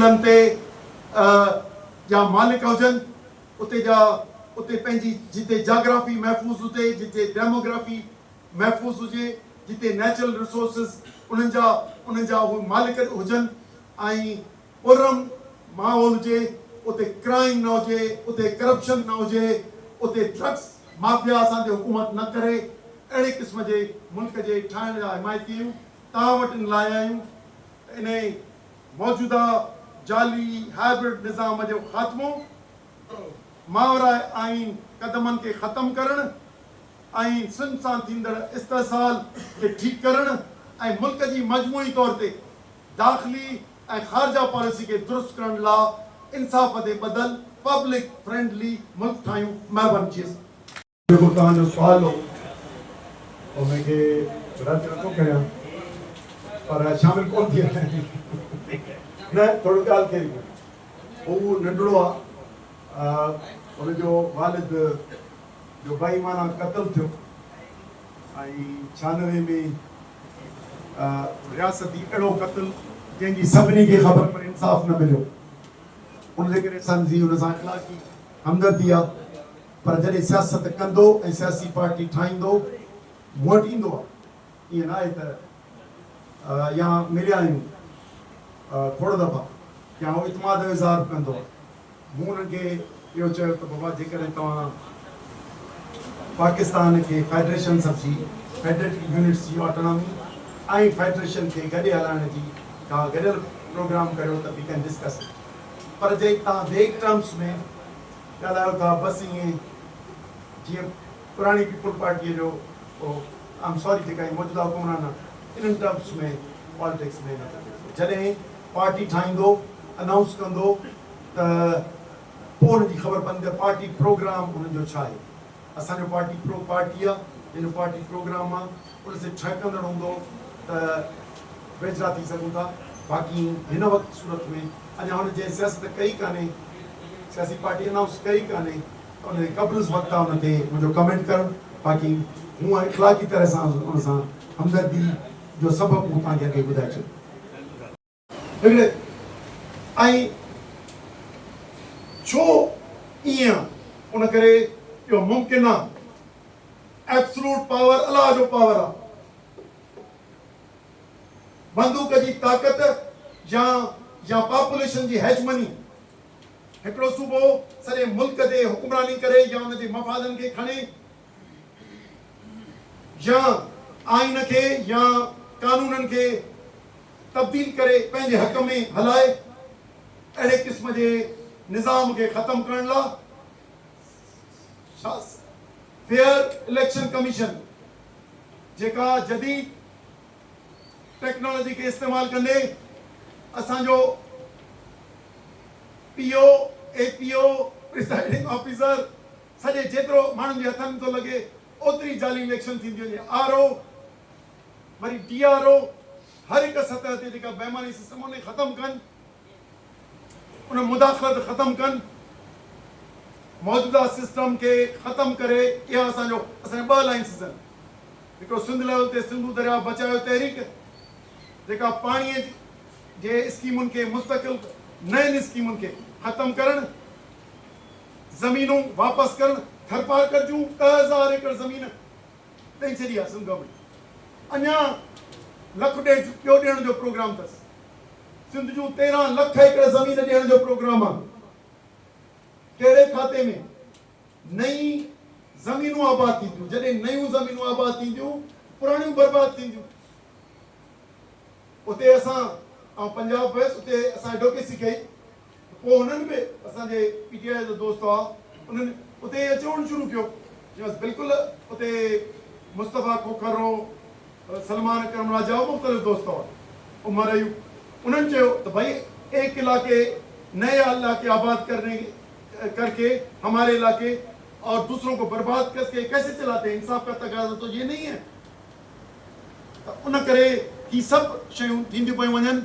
تيلن تي جا مالڪ هجن اتي جا اتي پنهنجي جتي جاگرافي محفوظ هجي جتي ڊيموگرافي محفوظ هجي جتي نيچرل رسورسز انهن جا انهن جا اهي مالڪ هجن ۽ پرامن ماحول هجي اتي ڪرائم نه هجي اتي ڪرپشن نه هجي اتي ڊرگس مافيا اسان تي حڪومت نه ڪري اهڙي قسم جي ملڪ جي ٺاهڻ جا حمايتي آهيون توهان وٽ ان لاء آهيون ته انهي موجوده جعلي هائبرڊ نظام جو خاتمو، ماورائي آئين قدمن کي ختم ڪرڻ ۽ سنڌ سان ٿيندڙ استحصال کي ٺيڪ ڪرڻ ۽ ملڪ جي مجموعي طور تي داخلي ۽ خارجه پاليسي کي درست ڪرڻ لا انصاف تي ٻڌل پبلڪ فرينڊلي ملڪ ٺاهيون مهرباني جي اسان. جيڪو توهان جو سوال هو او مين کي رد نٿو ڪريان پر شامل ڪون ٿي آهيان نه ٿورو ڳالهه ڪئي ڪو هو ننڍڙو آ ان جو والد جو بي ايمانه قتل ٿيو ۽ ڇانوي ۾ رياستي اهڙو قتل جنهن جي سڀني کي خبر پر انصاف نه مليو ان جي ڪري سنڌ جي ان سان اخلاقي همدردي آ. پر جڏهن سياست ڪندو ۽ سياسي پارٽي ٺاهيندو مون وٽ ايندو آهي. ائين نه آهي ته يا مليا آهيون کوڙ دفعا يا اهو اعتماد جو اظهار به ڪندو آهي. مون انهن کي اهو چيو ته بابا جيڪڏهن توهان پاڪستان کي فيڊريشن سمجهي فيڊريٽري يونٽس جي آٽونامي ۽ فيڊريشن کي گڏي هلائڻ جي ڪا گڏيل پروگرام ڪريو ته وي ڪين ڊسڪس اٽ پر جي توهان ويگ ٽرمس ۾ ڳالهايو ٿا بس ائين جيئن پراڻي پيپلز پارٽيء جو ڪو آئم ساري جيڪا هي موجوده حڪمران آهن انهن ٽرمز ۾ پالٽڪس ۾ نه ٿو اچي سگهي جڏهن پارٽي ٺاهيندو انائونس ڪندو ته پوء انهن جي خبر پوندي ته پارٽي پروگرام انهن جو ڇا آهي. اسان جو پارٽي پرو پارٽي آ جنهن جو پارٽي پروگرام آ ان سي ٺهڪندڙ هوندو ته ويجھڙا ٿي سگهون ٿا باقي هن وقت صورت ۾ اڃا هن جنهن سياست ڪئي ڪانهي سياسي پارٽي انائونس ڪئي ڪانهي ته ان جي قبل وقت آ ان تي منهنجو ڪمينٽ ڪرڻ باقي مون اخلاقي طرح سان ان سان همدردي جو سبب مون توهان کي اڳي ٻڌائي ڇڏيو. هڙ ۽ ڇو ايئن ان ڪري جو ممڪن آ ائبسلوٽ پاور الله جو پاور آ بندوق جي طاقت يا يا پاپوليشن جي هيجمني هڪڙو صوبو سڄي ملڪ تي حڪمراني ڪري يا ان جي مفادن کي کڻي يا آئين کي يا قانونن کي تبديل ڪري پنهنجي حق ۾ هلائي اهڙي قسم جي نظام کي ختم ڪرڻ لا فيئر اليڪشن ڪميشن جيڪا جديد ٽيڪنالاجي کي استعمال ڪندي اسان جو P O A P O presiding officer سڄي جيترو ماڻهن جي هٿن ٿو لڳي اوتري جعلي اليڪشن ٿيندي وڃي آر او وري ڊي آر او هر هڪ سطح تي جيڪا بيماني سسٽم انهي ختم ڪن ان مداخلت ختم ڪن موجوده سسٽم کي ختم ڪري اها اسان جو اسان ٻه الائنسز آهن هڪڙو سنڌ ليول تي سنڌو درياء بچايو تحريڪ جيڪا پاڻي جي اسڪيمن کي مستقل نين اسڪيمن کي ختم ڪرڻ زمينون واپس ڪرڻ، ٿرپارڪر جون ڏهه هزار ايڪڙ زمين ڏئي ڇڏي آهي سنڌ گورنمينٽ اڃا لک ڏيڍ ٻيو ڏيڻ جو پروگرام اٿس، سنڌ جون تيرهن لک ايڪڙ زمين ڏيڻ جو پروگرام آهي، ڪهڙي کاتي ۾ نئين زمينون آباد ٿينديون، جڏهن نيون زمينون آباد ٿينديون پراڻيون برباد ٿينديون، اتي اسان آئون پنجاب ويس اتي اسان ايڊوڪيسي ڪئي. پوء هنن به اسان جي پي ٽي آء جا دوست هئا انهن اتي اچي روئڻ شروع ڪيو چيائونس بلڪل اتي مصطفيٰ کوکر رو سلمان اڪرم راجا ۽ مختلف دوست هئا عمر ايوب انهن چيو ته ڀائي ايڪ علاقي نئي علاقي آباد ڪرني ڪر ڪي هماري علاقي اور دوسرون ڪو برباد ڪر ڪي ڪيسي چلاتے هين انصاف ڪا تقاضا تو يي نهي هي ته ان ڪري هي سڀ شيون ٿينديون پيون وڃن،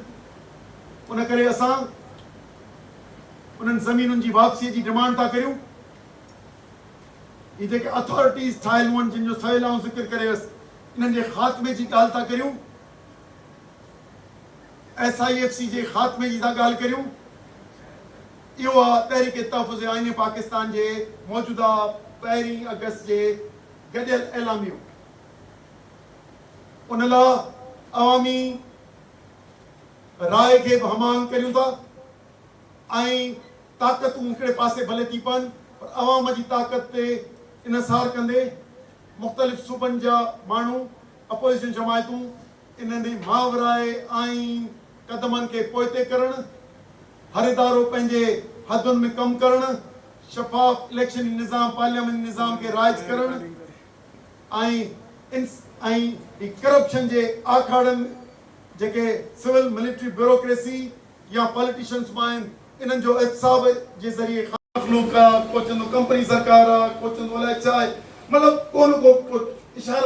ان ڪري اسان انهن زمينن جي واپسيء جي ڊمانڊ ٿا ڪريون. هي جيڪي اٿارٽيز ٺاهيل هئن، جن جو سويل آئون ذڪر ڪري ويس، انهن جي خاتمي جي ڳالهه ٿا ڪريون، ايس آء ايف سي جي خاتمي جي ٿا ڳالهه ڪريون، اهو آ تحريڪ تحفظ آئين پاڪستان جي موجوده پهرين آگسٽ جي گڏيل اعلاميو. ان لاء عوامي راء کي به ھم آھنگ ڪريون ٿا ۽ طاقتون ھڪڙي پاسي ڀلي ٿي پون پر عوام جي طاقت تي انحصار ڪندي مختلف صوبن جا ماڻھو اپوزيشن جماعتون انھن ماورائي آئين قدمن کي پوئتي ڪرڻ ھر ادارو پنھنجي حدن ۾ ڪم ڪرڻ شفاف اليڪشني نظام پارلياماني نظام کي رائج ڪرڻ ۽ ۽ ۽ ڪرپشن جي آکاڙن جيڪي سول ملٽري بيوروڪريسي يا پاليٽيشنس مان آهن انهن جو احتساب جي ذريعي خان مخلوق آ ڪو چوندو ڪمپني سرڪار آ ڪو چوندو الائي ڇا آهي مطلب ڪو نه ڪو ڪو اشارو.